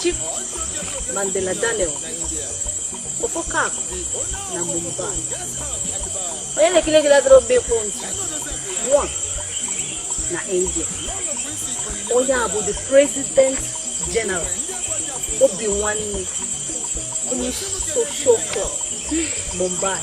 Chief Mandela Daniel Ofokak na Mumbai onye na-ekiri ekiri adịrọ mgbe ịkwụ ntị one na India onye a bụ the president general obi nwanne social club Mumbai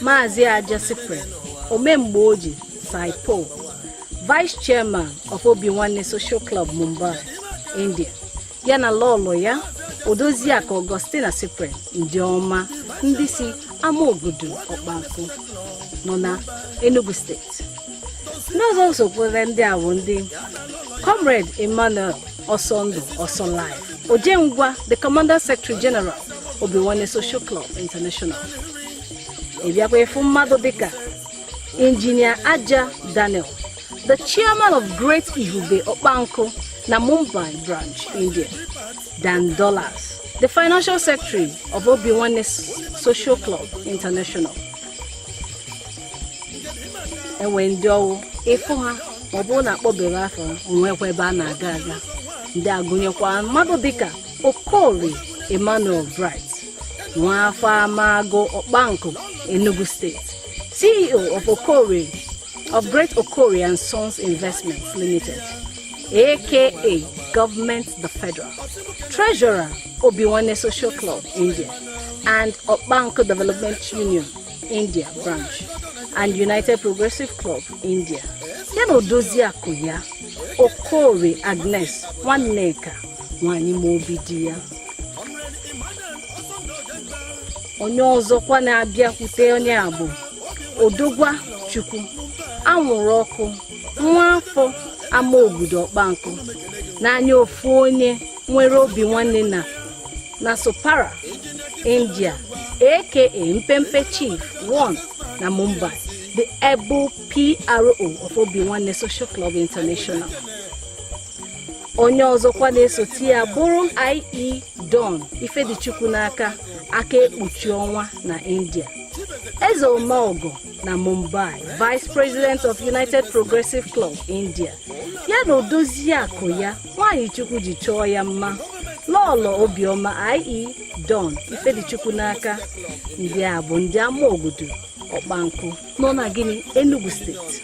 Maazị Aja Cyprian Omemgbe Oji Saipo Vice Chairman of Obi Nwanne Social Club Mumbai, India ya na lọlọ ya Odoziakụ Augustina Cyprian ndị ọma ndị si Amaogudu Ọkpankụ nọ na Enugu steeti ndị ọzọ sokwara ndị a bụ ndị comrade emmanuel ọsọndụ ọsọ life ojengwa the commander secretary general obi nwanne social club international ị bịakwa ị fụ mmadụ dịka injinia aja daniel the chairman of great ihube ọkpankụ na mumbai branch india dan dollars the financial secretary of obi nwanne social club international e nwee ndị ọ wụ ị fụ ha ma ọ bụrụ na akpọberọ afa o nwekwa ebe a na-aga aga ndị a gụnyekwa mmadụ dịka okorie emmanuel bright nwa afọ amagu ọkpankụ enugu steeti ceo of great okorie and sons investments limited aka government the federal treasurer obi nwanne social club india and ọkpankụ development union India branch and United Progressive Club India ya na odoziakụ ya Okorie Agnes Nwanneka nwanyị ma obi di ya onye ọzọkwa na-abịakwute onye a bụ Odogwa Chukwu anwụrụ ọkụ nwa afọ Amaogudu ọkpankụ n'anya ofu onye nwere obi nwanne na na Sopara, India, aka Mpempe Chief 1 na Mumbai, the able PRO of Obi Nwanne Social Club International. Onye ọzọkwa na-esote ya bụrụ IE Don Ifedichukwu n'aka aka ekpuchi ọnwa na India. Eze Omeọgọ na Mumbai, Vice President of United Progressive Club India, ya na odoziakụ ya nwaanyị chukwu ji chọọ ya mma lọọlọ obiọma ie don ifedichukwu n'aka ndị a bụ ndị amaogudu ọkpankụ nọ na aninri enugu state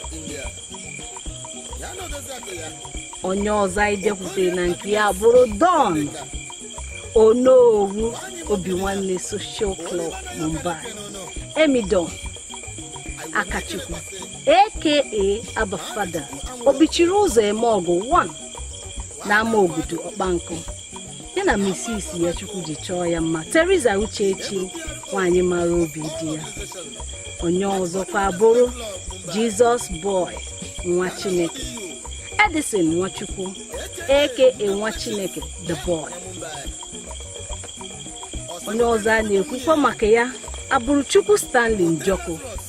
onye ọzọ anyị bịakwutere na nke ya abụrụ don onowu obi nwanne social club mumbai emidon akachukwu aka abafada obichiri ụzọ eme ọgụ 1 n'amaogudu ọkpankụ ya na mrs ya chukwu ji chọọ ya mma teresa uchechi nwanyị mara obi di ya onye ọzọkwa abụrụ jesus boy nwa chineke edison nwachukwu aka nwa chineke the boy onye ọzọ a na-ekwukwa maka ya abụrụ chukwu stanley njọkụ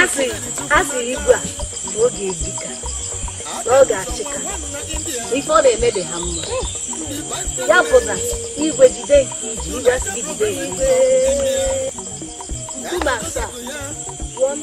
asị asị igwe a ọ ga-ebi ka ọ ga-achị ka ife ọ na-eme dị ha mma ya pụta igwe jide nke i ji igwe a sị gị jide nke i ji nkume asaa one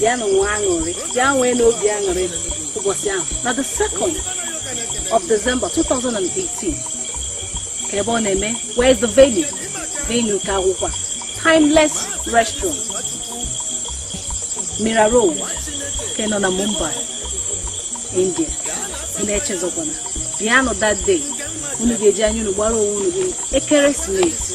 bịanụ nwa aṅụrị bịa nwee n'obi aṅụrị ụbọchị ahụ na the second of December 2018 kee ebe ọ na-eme where is the venue venue ka wụkwa timeless restaurant Mira Road nke nọ na Mumbai India unu echezọkwana bịanụ that day unu ga-eji anya unu gbara onwe unu ekeresimesi